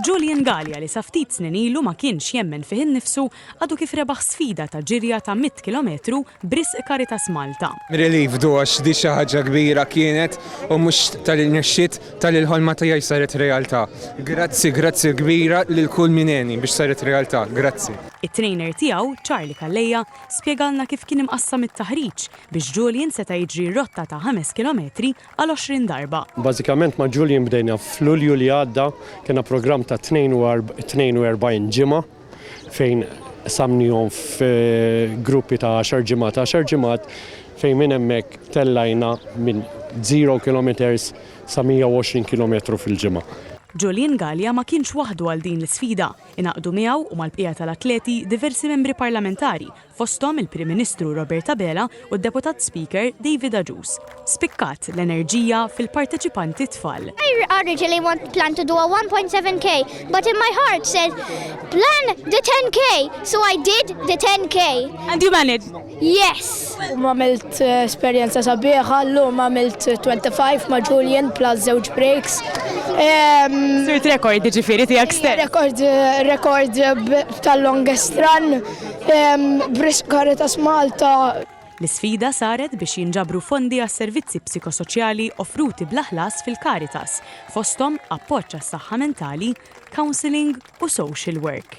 Julian Galea li sa ftit snin ilu ma kienx jemmen fih innifsu għadu kif rebaħ sfida ta' ġirja ta' mitt kilometru b'risq Caritas Malta. Relief du għax di xi ħaġa kbira kienet u mhux talli nexxiet talli l-ħolma tiegħi saret realtà. Grazzi grazzi kbira lil kull min għeni biex saret realtà. Grazzi. It-trainer tiegħu, Charlie Calleja, spjegalna kif kien imqassam it-taħriġ biex Julian seta' jiġri rotta ta' ħames kilometri għal għoxrin darba. Bażikament ma' Julian bdejna f'Lulju li għadda, kellna programm ta' 42 ġimgħa fejn qsamnihom f'gruppi ta' għaxar ġimgħat, għaxar ġimgħat fejn minn hemmhekk tellajna minn zero kilometers sa 120 kilometru fil-ġimgħa. Julian Galea ma kienx waħdu għal din l-isfida, ingħaqdu miegħu u mal-bqija tal-atleti diversi membri parlamentari fosthom il-Prim Ministru Robert Abela u d-Deputat Speaker David Agius. Spikkat l-enerġija fil-parteċipanti tfal. I originally want plan to do a 1.7k but in my heart said plan the 10k so I did the 10k. And you managed? Yes! U għamilt eh, esperjenza sabiħa, l-lum għamilt 25 ma' Julian plus zewġ breaks. Sirt rekord ġifiri tijak stess. Rekord, rekord tal-longest run. B'risq Caritas Malta. L-isfida saret biex jinġabru fondi għas-servizzi psikosoċjali offruti bla ħlas fil-Caritas, fosthom appoġġ għas-saħħa mentali, counselling u social work.